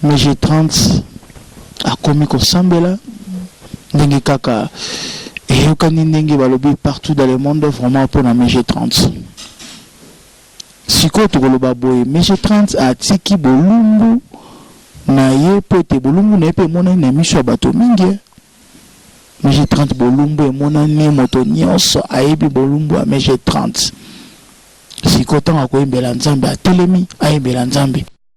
Mais j'ai 30 akomi kosambela ndenge kaka eyokani ndenge balobi partout dans le monde vraiment mpona mg 30 sikoyo tokoloba boye mg 30 atiki bolumbu na ye mpo ete bolumbu na ye mpe emonani na miso ya bato mingi eh. mg 30 bolumbu emonani moto nyonso ayebi bolumbu ya mg 30 sikoyo ntango akoyembela nzambe atelemi ayembela nzambe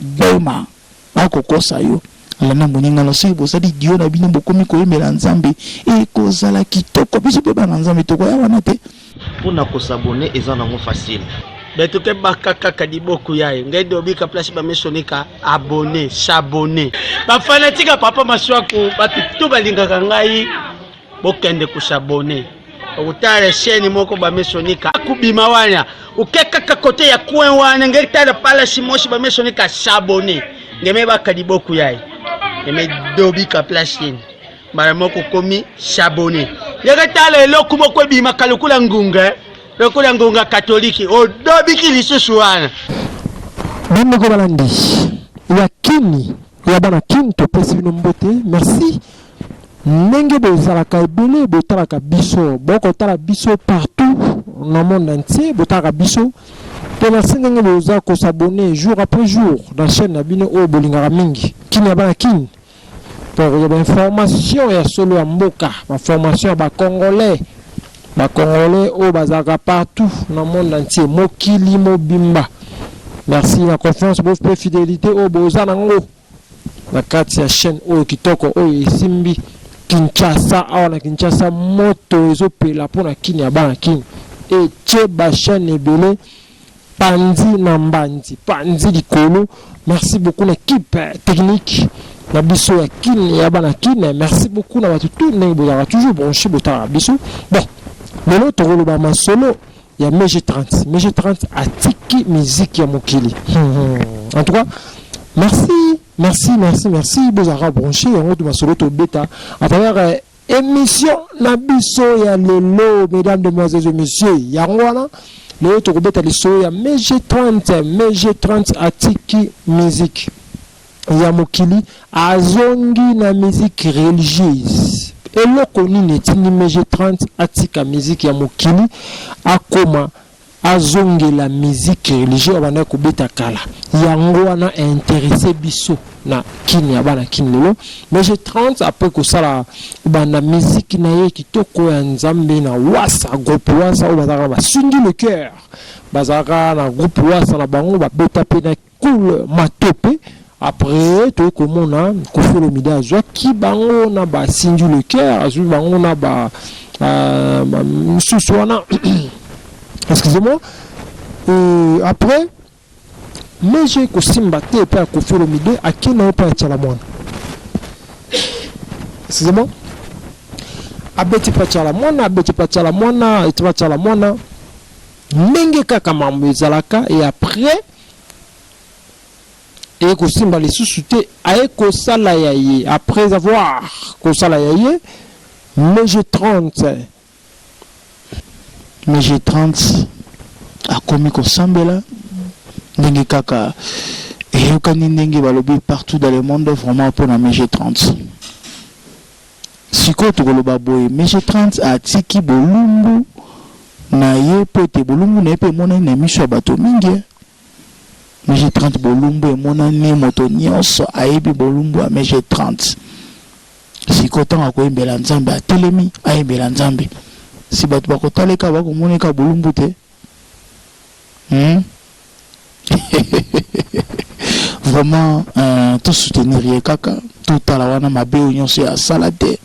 Boma ba kokosa yo landa moninga na soki bozali duo na bino bokomi koyembela nzambe ekozala kitoko biso mpe bana nzambe tokoya wana te mpo na kosabone eza nango facile betu ke baka kaka liboku yaye ngai dobika place bamisonika abone sabone bafanatika papa maswaku bato to balingaka ngai bokende ku s'abonner okutala esheni moko bamesonika akubima wana oke kaka kote ya coin wana ngeli tala palasi mosi bamesonika sabone ngeme baka liboku yaye ngeme dobika place yeni mbala moko okomi sabone ndenge tala eloko moko ebimaka lokola ngunga eh. lokola ngunga katoliki odobiki lisusu wana bandeko balandi ya kini ya bana kin topesi bino mbote merci ndenge bozalaka ebele botalaka biso bokotala biso partout na monde entier botalaka biso mpe merci ndenge boza kosabone jour après jour na chaîne na bino oyo bolingaka mingi kin ya bana kin mpo kozwa bainformation ya solo ya mboka baformation ya bacongolais Ba congolais oyo bazalaka partout na monde entier, mokili mobimba, merci na confiance bo pe fidelite oyo boza na ngo na kati ya chaîne oyo kitoko oyo esimbi Kinshasa. Awa na Kinshasa moto ezopela mpo na kin ya bana kin etie ba chaîne ebele Panzi na mbanzi panzi likolo merci beaucoup na kipe technique na biso ya kin ya bana kin merci beaucoup na bato tout ndenge bozalaka toujours branche botalaka biso bon lelo tokoloba masolo ya mg 30 mg 30 atiki miziki ya mokili hmm. en tout cas merci merci merci merci bozalaka branche yango to masolo tobeta à travers Emission na biso ya lelo mesdames, demoiselles et messieurs, yango wana lelo tokobeta lisolo ya mai G30. Mai G30 atiki musique ya mokili, azongi na musique religieuse. Eloko nini etindi mai G30 atika musique ya mokili akoma Azongela musique religieux abandaki kobeta kala yango wana a interesse biso na kin ya bana kin lelo mais je 30 après kosala banda musique na ye kitoko ya nzambe na wasa groupe wasa oyo bazalaka na basungi le cœur bazalaka na groupe wasa na bango babeta pe na Cool matope après toye komona Koffi Olomide azwaki bango na ba Cindy le Coeur azwi bango na ba euh, misusu wana excusez-moi euh, après mais j'ai kosimba te epai ya Koffi Olomide ake na ye epai ya Tshala Mwana excusez-moi abeti epai ya Tshala Mwana abeti epai ya Tshala Mwana epai ya Tshala Mwana ndenge kaka mambo ezalaka et après eye kosimba lisusu te aye kosala ya ye après avoir kosala ya ye mais je 30 mais je 30 akomi kosambela ndenge kaka eyokani ndenge balobi partout dans le monde vraiment mpona mais je 30 Sikoyo tokoloba boye, Monsieur Trans atiki bolumbu na ye mpo ete bolumbu na ye mpe emonani na miso ya bato mingi ee. Monsieur Trans bolumbu emonani, moto nyonso ayebi bolumbu ya Monsieur Trans. Sikoyo ntango ya koyembela Nzambe, atelemi ayembela Nzambe. Si bato bakotala ye kaka, bakomona ye kaka bolumbu te? Hum! Vraiment euh, to soutenir ye kaka totala wana mabe oyo nyonso ye asala te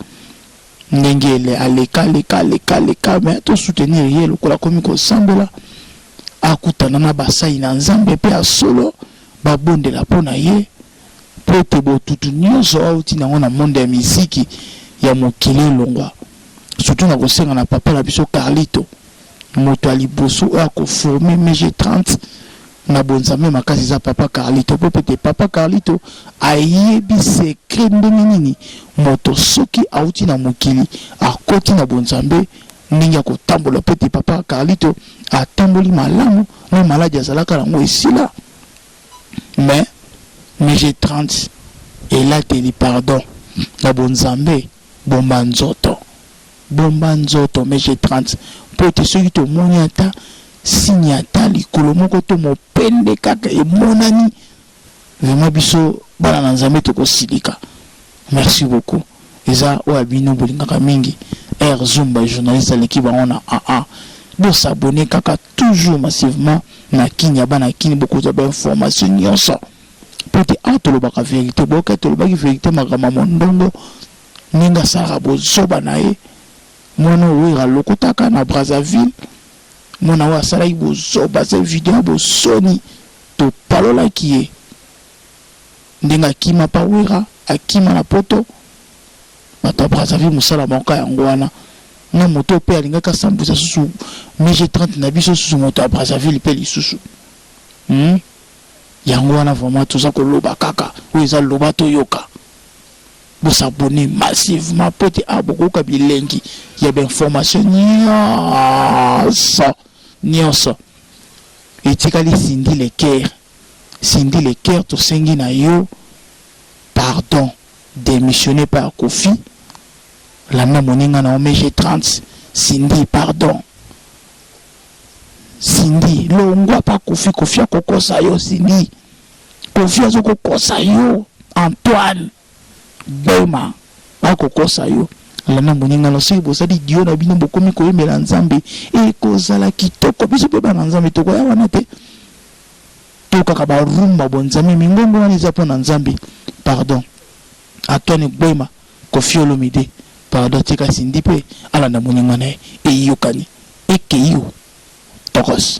ndenge ele aleka aleka aleka aleka me to soutenir ye lokola akomi kosambela akutana na basali na nzambe mpe ya solo babondela mpo na ye mpo ete botutu nyonso auti nango na monde ya miziki ya mokili elongwa surtout na kosenga na papa na biso carlito Moto ya liboso oyo ako former MG30 na bonzambe makasi eza Papa Carlito mpo pete Papa Carlito ayebi secret ndenge nini moto soki awuti na mokili akoti na bonzambe ndenge ya kotambola mpo ete Papa Carlito atamboli malamu na maladi azalaka na yango esila mais MG30 elateli pardon na bonzambe. Bomba nzoto bomba nzoto mais je 30 mpo ete soki tomoni ata signe ata likolo moko to mopende kaka emonani vraiment biso bana na nzambe tokosilika merci beaucoup eza oyo ya bino bolingaka mingi air zoom ba journaliste aleki bango na aa bo s'abonner kaka toujours massivement na kin ya bana kin bokozwa ba information nionso mpo te awa tolobaka verite boyoka tolobaki verite makambo ya mondongo ndenge asalaka bozoba na ye mwana owera alokotaka na brazzaville mwana oyo asalaki bozoba se video ya bosoni topalolaki ye ndenge akima pa wera akima na poto bato ya brazzaville mosala maoka yango wana na moto mpe alingaki asambwisa susu mg 30 na biso susu moto ya brazzaville mpe lisusu hmm? Yango wana vraiment toza koloba kaka oyo eza loba toyoka bo s'abonner massivement po ete awa bokoyoka bilengi ya ba information nionso nionso etikali Cindy le coeur Cindy le coeur tosengi na yo pardon demissionner epai ya Koffi landa moninga na yo mg 30 Cindy pardon. Cindy longwa pa koffi koffi akokosa yo Cindy koffi azo kokosa yo Antoine Bema akokosa yo lana moninga na soki bozali dio na bino bokomi koyembela nzambe ekozala kitoko biso mpe bana nzambe tokoya wana te tokaka barumba bonzambe mingongo wana eza mpo na nzambe pardon Antoine Gbema, Koffi Olomide pardon tika Cindy pe alanda moninga na ye eyokani ekeyioo tokoss.